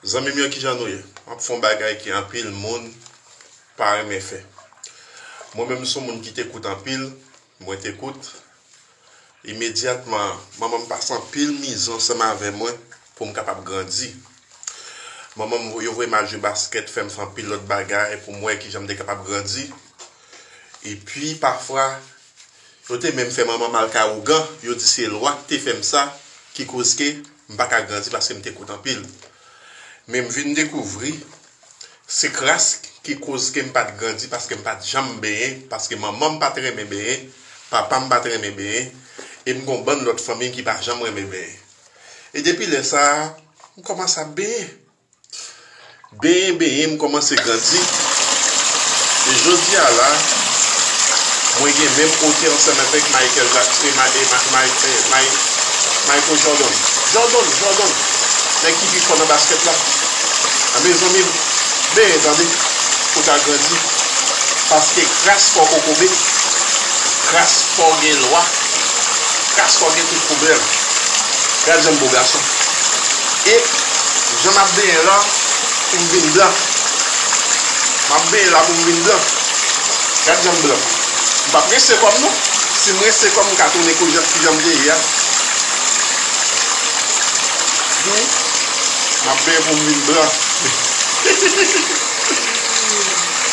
Zanmim yo kijan nou ye map fon bagay ki anpil moun pa renmen fè mwen menm son moun ki te kout anpil mwen te kout imedyatman manmanm pase anpil mizè ansanm avè mwen poum kapab grandi manmanm yo voyem al jwe baskèt fèm fè anpil lòt bagay poum wè kijanm te kapab grandi epi pafwa Yo te menm fè manman m al kay ougan, yo di se lwa ki te fè m sa ki koz ke m pa ka grandi paske m te kout anpil. Men m vin dekouvri se kras ki koz ke m pa t grandi paske m pa t janm benyen paske manman m pa t renmen benyen, papa m pa t renmen benyen e m gon bann lòt fanmi ki pa janm renmen benyen. E depi lè sa a, m kòmanse ap benyen. Benyen benyen m kòmanse grandi e jodi a la mwen gen menm ote ansanm avèk Michael Jackson e Michael Jordan. Jordan! Jordan! Nèg ki pi fò nan baskèt la. A mezanmi m benyen tande pou ta grandi paske kras kò kokobe, kras kò gen lwa, kras kò gen tout pwoblèm. Gad jan m bo gason. E jan map benyen la poum vin blan. Map benyen la poum vin blan. Gad janm blan. M pap rense kòm non. Sim rense kòm m ka tounen kijanm te ye a. Wi. Map benyen poum vin blan.